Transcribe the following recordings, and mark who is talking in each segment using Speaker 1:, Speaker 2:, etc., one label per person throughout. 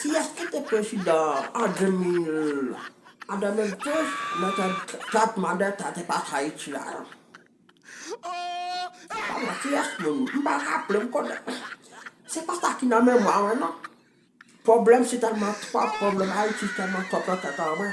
Speaker 1: Kiyès ki te
Speaker 2: prezidan an 2002 nan tèt mande tèt espas Ayiti a? Ala kiyès moun m pa raple m konnen se pa sa ki nan memwa mwen non pwoblèm si tèlman twòp pwoblèm Ayiti si tèlman twòp nan tèt an mwen.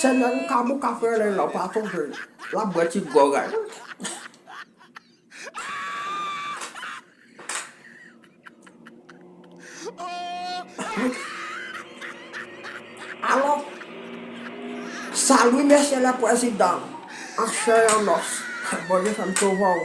Speaker 2: Sènè ou ka bouka frè lè lòp a tonbe lap bwè ti gròg a wi. Alò sa Lwi Mesye lè pwezidan an chè an nòs Bondye fèm sovè w.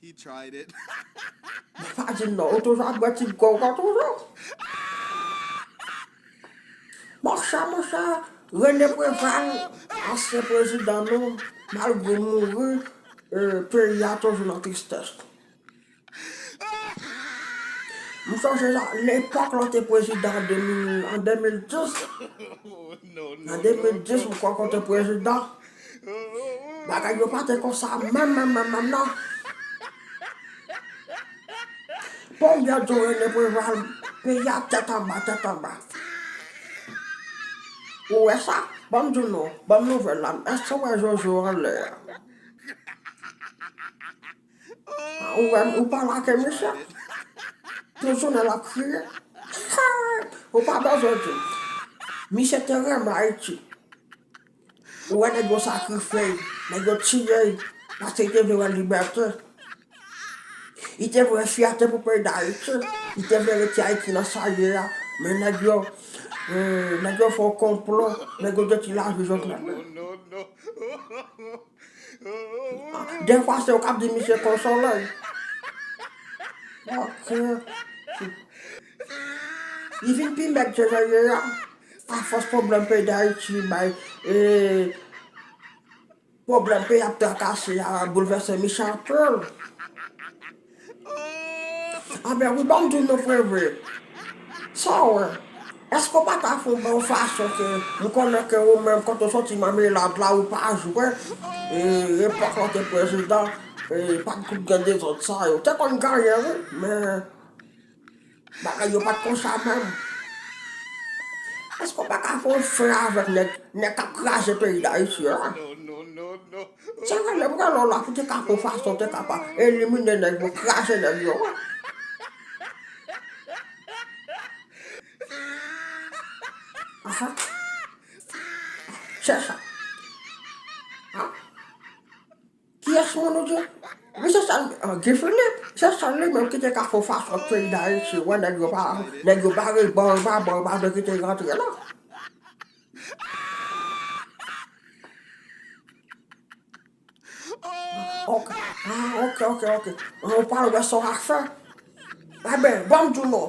Speaker 1: He tried it. Mwen pa
Speaker 2: di non, ou toujou ap bwè ti bgò ou pa toujou. Bon sa mon chè Rene Preval ansyen prezidan nou malgre l mouri peyi a toujou nan tristès. M sonje nan epòk lan te prezidan an 2010 nan 2010 m kwè ke w te prezidan. Bagay yo pa te konsa menm menm menm menm nan. Bon byè do rene preval peyi a tèt anba tèt anba. Ou wè sa? Banm di w non, banm nouvèl la, èske w wè Jojo anlè a? Ou wè ou pa lage misye? Tout jounen l ap kriye. Ou pa bezwen di m. Misye te renmen Ayiti. Ou wè nèg yo sakrifye l, nèg yo tiye l paske li te vle wè libète. Li te vle wè fyète pou peyi Dayiti. Li te vle reti Ayiti nan sa l ye a. Men nèg yo, nèg yo fè yon konplo, nèg yo detwi lavi Jovenel la. Dèfwa se ou k ap di misye konsole l. Ok. Li vin pi mèg ke jan l ye a afòs pwoblèm peyi Dayiti bay e pwoblèm peyi a ap trakase a boulvèse mi chan ke l. Anben wi banm di w non Preve, sa w wè, èske w pa ta fè w bon fason ke m konnen ke ou menm kote w soti Mèmelad la ou pa jwe e epòk lè w te prezidan e pa t gen dezòd sa yo. Te konn genyen wi men. Bagay yo pat konsa menm. Eske w pa ka fè yon fre avèk nèg kap kraze peyi dayiti an.
Speaker 1: Se vre menm
Speaker 2: rèl w la pou te ka fè yon fason pou te ka pa elimine nèg yo kraze nèg yo an. Se sa. Kiyès moun ou di? Misye sal an Guy Philippe se sèl li menm ki te ka fè yon fason pou peyi Dayiti wè nèg yo pa nèg yo bare bò yo pa bò yo pa vle kite yo antre la. Ok a ok ok ok ou pral wè sa w a fè. Enben banm di w non.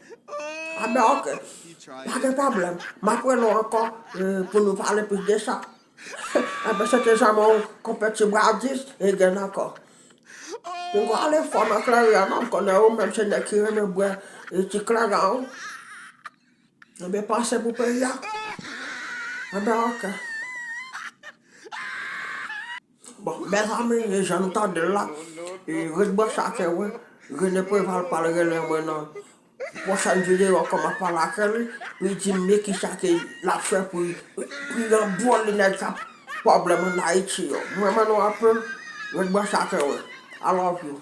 Speaker 2: Abner, Ok. Pa gen
Speaker 1: pwoblèm.
Speaker 2: M'ap wè nou ankò pou nou pale plis de sa. Abner, Se te janm yon konpè ti bradis e gen nan kò. Ou pa ale fò nan kleren an non, m'konnen ou menm se nèg ki renmen bwè ti kleren an. Ebyen panse pou peyi a. Abner, Ok. Bon mezanmi jan nou tandel la ret branche akew wi Rene Preval pral rele mwen nan pwochèn video an kòman pale ake li pou li dim byen kisa ke lap fè pou li nan bon li nèg kap pwoblèm an Ayiti yo mrenmen nou anpil ret branche akew wi I love you.